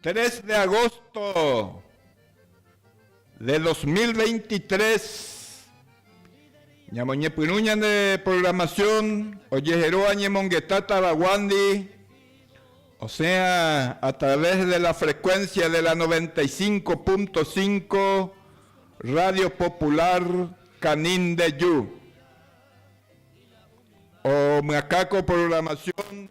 Tres de agosto de dos mil veintitrés, ñamoñepyrũ ñane programación ojeheróva ñemongeta tavaguándi, osẽha a través de la frecuencia de la noventa y cinco punto cinco Radio Popular Canindeju. Omyakãko programación.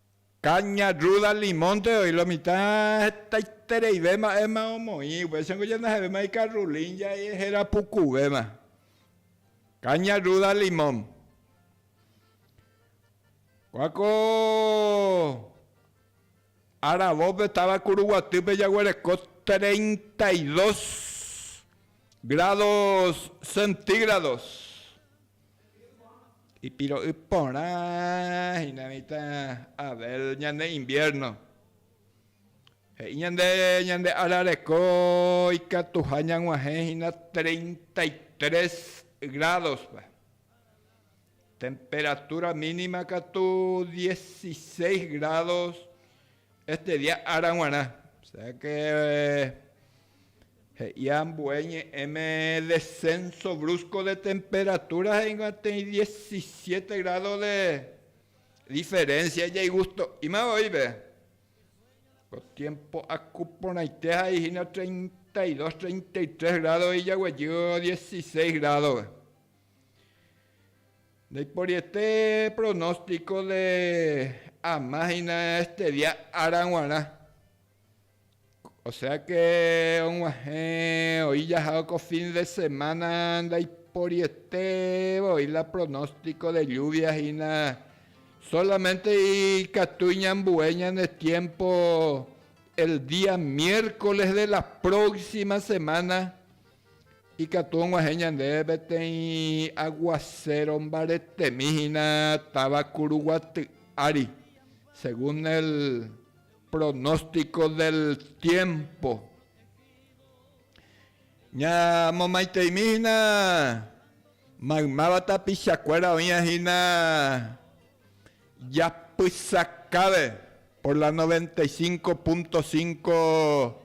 Caña, ruda, limonte oĩ lo mitã hetaitereive mba'éma omoĩ. Upéicha niko ñandejavéma ikarrulin ja'e héra pukuvéma. Caña, ruda, limón. Kua ko Arabópe táva Kuruguatýpe jaguereko treinta y dos grádos centígrados. Ipiro'y porã hína mitã Abel ñane invierno. He'i ñande ñande ára reko ikatuha ñag̃uahẽ hína treinta y tres grádospe. Temperatúra mínima katu dieciséis grádos este día ára g̃uarã. O sea que He'i ambue ñe'ẽme descenso brusco de temperatura ha'énguantei diecisiete grado de diferencia ijeigusto'ímava oĩve. Ko tiempo aku porãite ha'e hína treinta y dos, treinta y tres grado ijaguejy dieciseis grado-pe. Ndaiporiete pronóstico de ama hína este día ára g̃uarã. Oséake og̃uahẽ oĩ jahao ko fin de semána ndaiporieté voi la pronóstiko de lluvia hína, sólamente ikatúi ñambue ñane tiémpo el día miércoles de la próxima semana ikatu og̃uahẽ ñandéve peteĩ aguacero mbaretemi hína táva Curuguaty ári, según el Pronóstico del tiempo, Ñamomaiteimi hína maymáva tapichakuéra oĩva hína japysakáve por la 95.5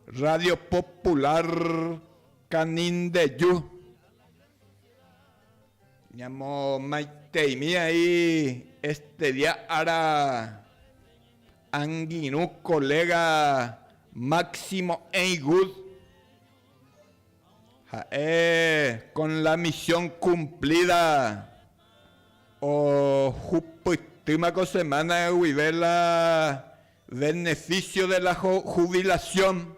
Radio Popular Canindeju. Ñamomaiteimi aĩ estudia ára angirũ koléga Máximo Eingud. Ha'e kon la misión kumplída ohupytýma ko semána guive la venefísio de la hubilasión.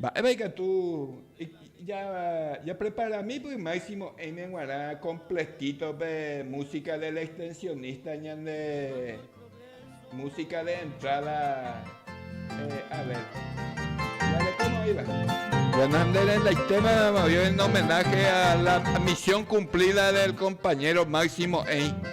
Mba'épa ikatu japreparami py Máximo Heine g̃uarã kompletítope músika del extensionista ñande músika de entráda? A ver, jarekóma oĩva. Bueno, nde rendaitéma oĩ homenáhe a la misión cumplida del compañero Máximo Heine.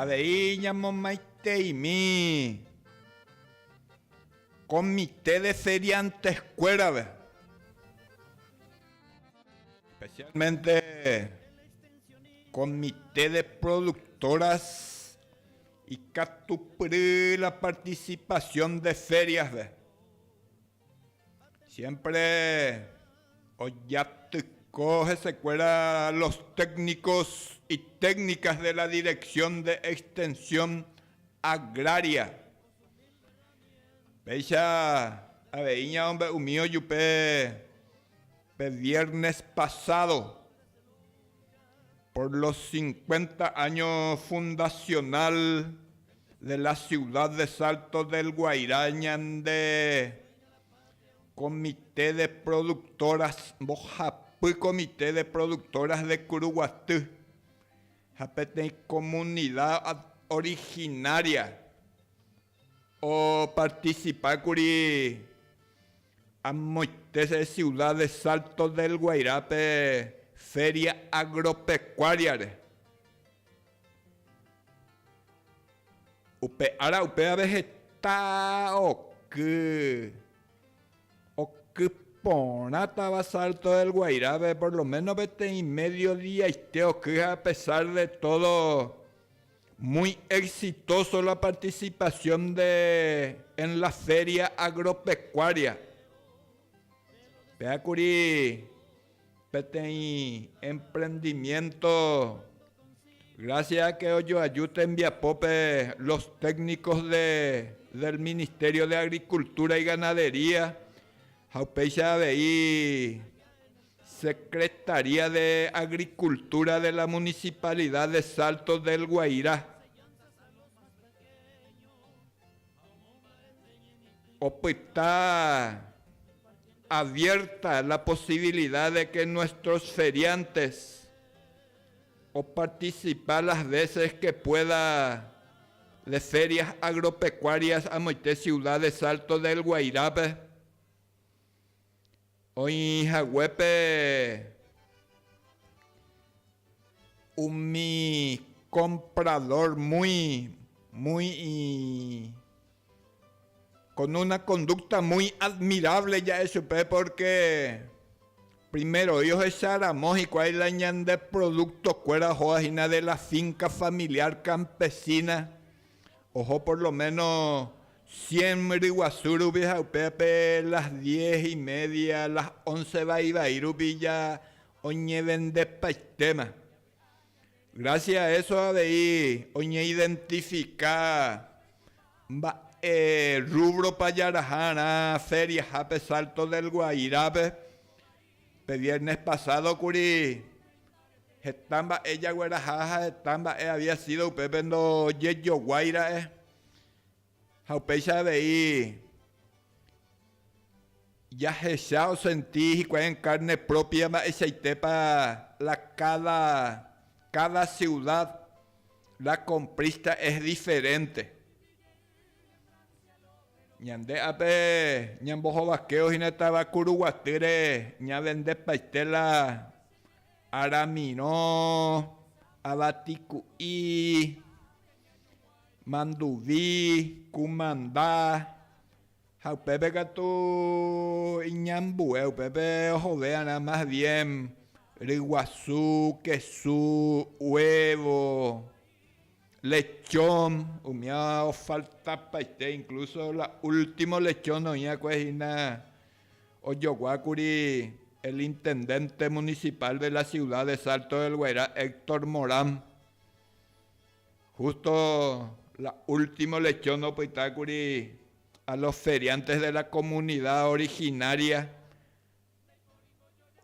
Avei ñamomaiteimi komite de ferianteskuérape, especialmente komite de productoras. Ikatupyry la participación de ferias-pe, siempre ojatyko hesekuéra los técnicos y técnicas de la Dirección de Extensión Agraria. Péicha avei ñamombe'umi ojupe pe viernes pasado. Por los cincuenta año fundacional de la ciudad de Salto del Guairá ñande comité de productoras, mbohapy comité de productoras de Curuguaty ha peteĩ comunidad originaria Opartisipákuri amoite siuda de Salto del Guairápe Féria Agropekuáriare. Upe ára upévare heta oky oky porãtava Salto del Guairápe, por lo méno peteĩ médio diaite oky ha a pesar de tódo, Muy exitoso la participación de en la feria agropecuaria. Peakuri peteĩ emprendimiento gracias a que ojoaju tembiapópe los técnicos de del Ministerio de Agricultura y Ganadería ha upéicha avei Secretaría de Agricultura de la Municipalidad de Salto del Guairá opyta abierta la posibilidad de que nuestros feriantes oparticipa las veces que pueda de ferias agropecuarias amoite ciudad de Salto del Guairá-pe. Oĩ haguépe umi kompradór muy, muy kon una kondúkta muy admirávle ja'e chupe pórke primeroi ohecha ramo hikuái la ñande prodúktokuéra ohoa hína de la fínka familiár kampesína. Oho por lo méno cien ryguasu rupi ha upépe las diez y media, las once vai vai rupi ja oñevendepaitéma. Gracias a eso avei oñeidentifica mba'e rúbropa jaraha'arã feriahápe Salto del Guairape. Pe viernes pasado kuri, heta mba'e jagueraha ha heta mba'e había sido upépe ndojejoguái ra'e. Ha upéicha avei, jahecha osenti hikuái en carne propia mba'eichaitépa la cada, cada ciudad, la comprista es diferente. Ñande ape ñambohovakévo hína táva Kuruguatýre ñavendepaite la aramirõ, avatiku'i, manduvi, kumanda ha upépe katu iñambue upépe ohovérarã más bien ryguasu, kesu, huevo. Lechón, umíva ofaltapaite, incluso la último lechón oĩva'ekue hína ojoguákuri el intendente municipal de la ciudad de Salto del Guairá, Héctor Morán, justo la último lechón opytákuri a los feriantes de la comunidad originaria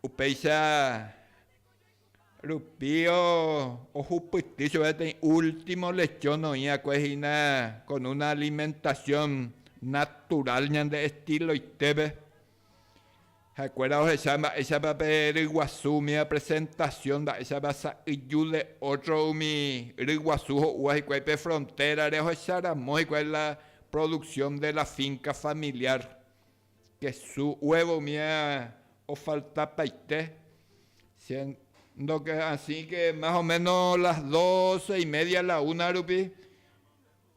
Upéicha rupío ohupyty chupe peteĩ último lechón oĩ'akue hína con una alimentación natural ñande estiloitépe. Ha'ekuéra ohecha mba'éichapa pe ryguasu umíva presentación, mba'éichapa sa'yju de otro umi ryguasu ho'úva hikuái pe frontérare ohecharamo hikuái la producción de la finca familiar. Kesu huevo umi ofalta paite. Siendo que asi que más o meno las doce y media la una rupi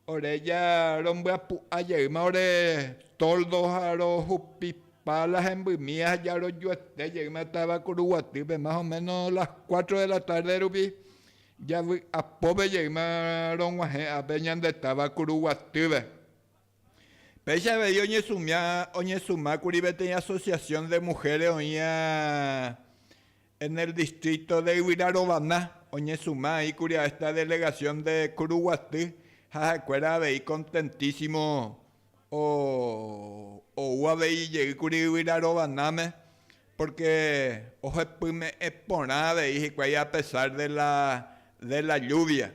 ore ja rombyapu'a jeýma ore toldo ha rohupipa la hembymi ha ja rojuete jeýma táva Kuruguatýpe más o meno las cuatro de la tarde rupi javy'apópe jeýma rog̃uahẽ ápe ñande táva Kuruguatýpe. Péicha avei oñesũmákuri peteĩ asociación de mujeres oĩva en el distrito de Yvyra Rovana, oñesũma aĩkuri a esta delegación de Kuruguaty ha ha'ekuéra avei contentísimo ou avei jeýkuri Yvyra Rovanáme porque ohepyme'ẽ porã avei hikuái a pesar de la lluvia.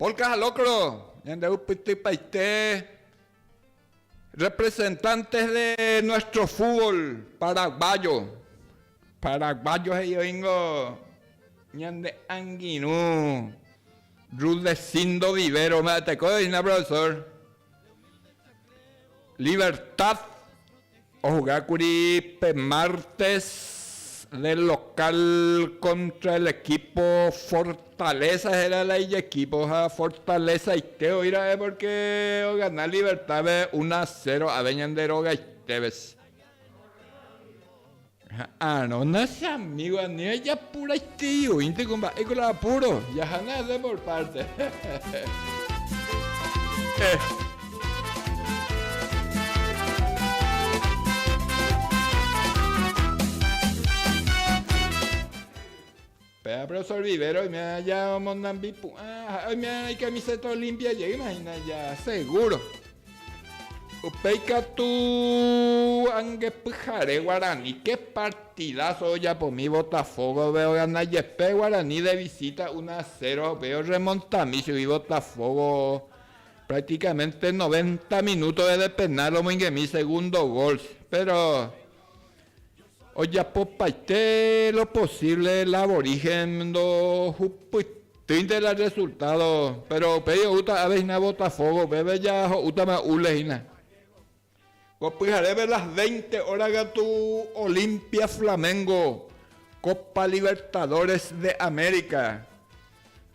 Polka ha locro, ñandevu pytypaite representantes de nuestro fútbol paraguayo. Paraguayo he'i oingo ñande angirũ Rudecindo Vivero, mba'eteko hína profesor. Libertad ojogákuri pe mártes de lokál kóntra el ekípo Fortaleza héra la ijekípo ha fortalezaite oĩ ra'e pórke ogana Libertádpe una a cero ave ñande rogaitépe. Ha Aarón ha amígo anýva japuraitei oĩnte ko mba'éko la apuro. Jahana hese por párte. Ech. Pe abrazo rivero oime aja omonambi pu'ã ha oime aja icamiseta olimpia jeýma hína aja seguro. Upéi katu ange pyhare Guarani, qué partidazo ojapomi Botafógove ogana jepe Guarani de visita una a cero ha upéi orremontami chugui Botafógo prácticamente noventa minútove de penal omoingemi segundo gol, péro Ojapopaite lo posívle la aborígen ndohupytýinte la rresultádo, péro upéi oúta ave hína Botafogo, upépe jaho'útama Ule hína. Ko pyharépe las veinte óra katu Olimpia Flamengo, Copa Libertadores de América.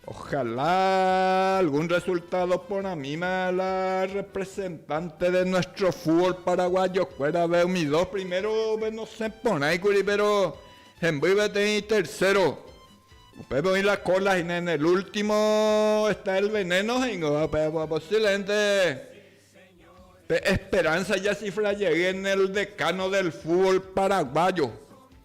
Ojalá algún resultado porãmíma la representante de nuestro fútbol paraguayokuérave umi dos primerove nosẽ porãikuri péro hemby peteĩ tercero. Upépe oĩ la cola hína en el último está el veneno he'íngova upéva posiblemente pe esperanza yasifra jey en el decano del fútbol paraguayo.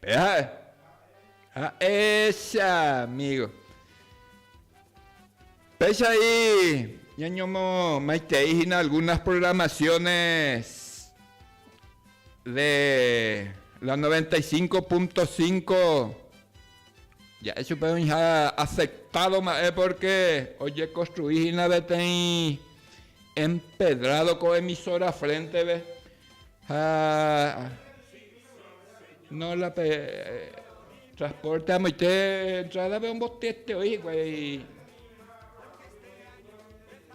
Pe ha'e. Ha'éicha, amigo. Péicha y ñañomo maitei hina algunas programaciones de la 95.5. Ja'e chupe oĩha afectado mba'e porque ojeconstrui hína peteĩ empedrado ko emisora frente-pe. Ha no la pe transporte amoite entrada pe ombotete oi hikuái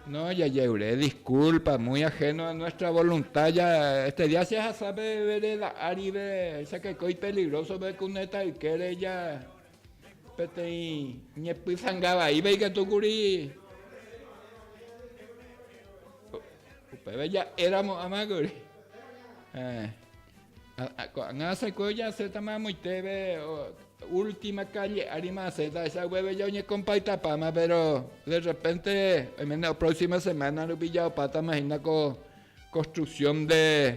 no jajeure disculpa muy ajeno a nuestra voluntad ya este día se ahasa pe vereda árive esakeko ipeligroso pe kuneta ykére ya Peteĩ ñepysanga vaíva ikatu kuri upéva ja'éramo ama kuri. Eh, ko'ág̃a asẽkue ojasétama amoitéve última kálle árima asẽta ahecha upépe jaoñekompaktapáma, péro de repente oiméne prósima semána rupi jaopátama hína ko konstruksión de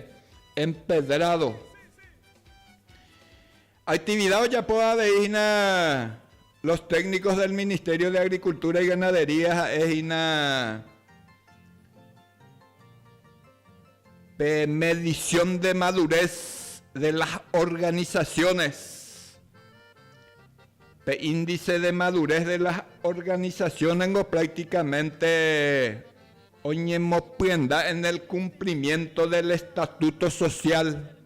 empedrado. Actividad ojapo avei hína los técnicos del Ministerio de Agricultura y Ganadería ha'e hína pe medición de madurez de las organizaciones, pe índice de madurez de las organizaciones-ngo prácticamente oñemopyenda en el cumplimiento del estatuto social.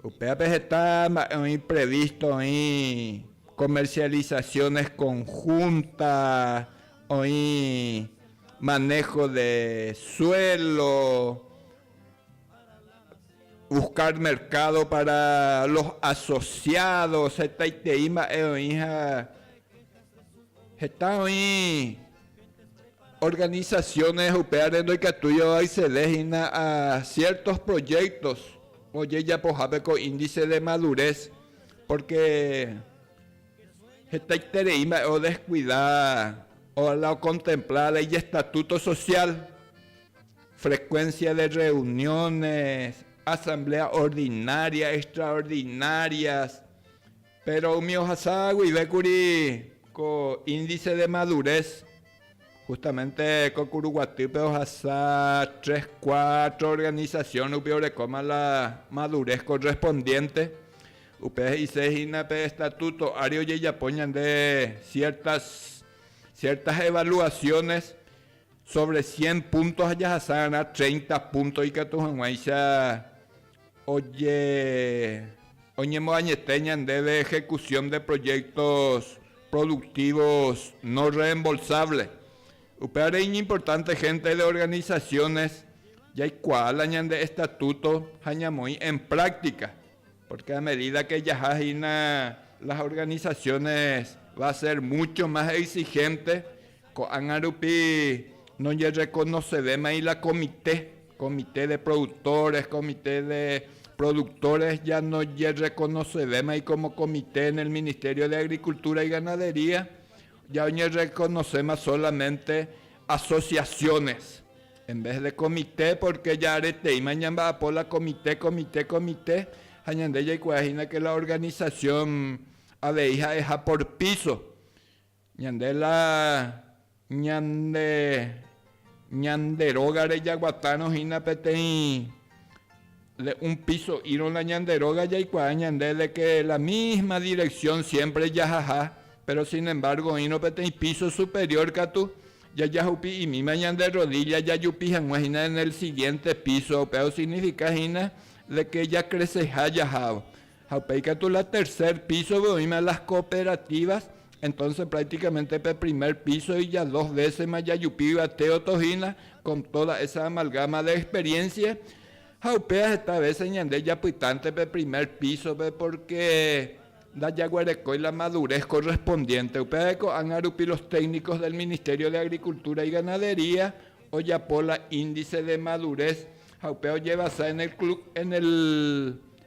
Upévape heta mba'e oĩ previsto, oĩ comercializaciones conjunta, oĩ manejo de suelo, buscar mercado para los asociados, hetaitei mba'e oĩha heta oĩ organizaciones upévare ndoikatúi oaccede hína a ciertos proyectos ojejapohápe ko índice de madurez, porque hetaiterei mba'e o descuida o la ocontempla la ijestatuto social, frecuencia de reuniones, asamblea ordinaria, extraordinarias, Péro umi ohasa guive kuri ko índice de madurez, justamente ko kuru guatýpe ohasa tres, cuatro organización rupi orekóma la madurez correspondiente, upe he'ise hína pe estatuto ári ojejapo ñande ciertas, ciertas evaluaciones sobre cien puntos ha jahasa g̃uarã treinta puntos ikatu hag̃uáicha Oñemoañete ñandéve ejecución de proyectos productivos no reembolsable. Upévare iñimportante gente de organizaciones jaikuaa la ñande estatuto ha ñamoĩ en práctica, porque a medida que jaha hína las organizaciones va a ser mucho más exigente Ko'ág̃a rupi nojerrekonosevémai la komite, komite de productores, komite de productores ya nojerrekonosevémai kómo komite en el Ministerio de Agricultura y Ganadería, ya oñerrekonoséma solamente asociaciones, en vez de komite, pórke ja areteíma ñamba'apo la komite, komite, komite, ha ñande jaikuaahína ke la organización avei ha'eha por piso. Ñande la ñande ñande rógare jaguatárõ hína peteĩ de un piso írõ la ñande róga jaikuaa ñande de que la misma dirección siempre jahaha, pero sin embargo oĩrõ peteĩ piso superior katu jajahupi'imíma ñande rodilla jajupi hag̃ua hína en el siguiente piso, upéva osignifica hína de que jacreseha jahávo. Ha upéi katu la tercer piso-pe oĩma las cooperativas, entonces prácticamente pe primer piso iya dos veces-ma jajupi yvate otohína con toda esa amalgama de experiencia, ha upéva heta veces ñande japytánte pe primer piso-pe porque ndajaguerekói la madurez correspondiente. Upévare ko'ág̃a rupi los técnicos del Ministerio de Agricultura y Ganadería ojapo la índice de madurez ha upéva ojevasa en el, en el,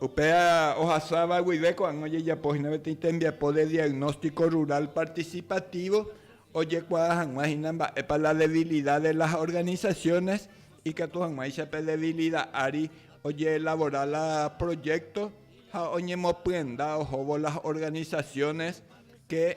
Upéva ohasáva guive ko'ág̃a ojejapo hína peteĩ tembiapo de diagnóstico rural participativo ojekuaa hag̃ua hína mba'épa la debilidad de las organizaciones ikatu hag̃uáicha pe debilidad ári ojeelabora la proyecto ha oñemopyenda ohóvo las organizaciones que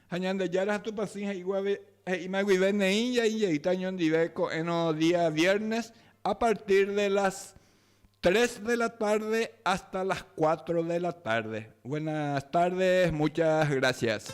Ha Ñandejára ha Tupã Sy he'íguave, he'íma guive neĩ jai jeýta oñondive ko'ẽrõ día viernes a partir de las tres de la tarde hasta las cuatro de la tarde. Buenas tardes, muchas gracias.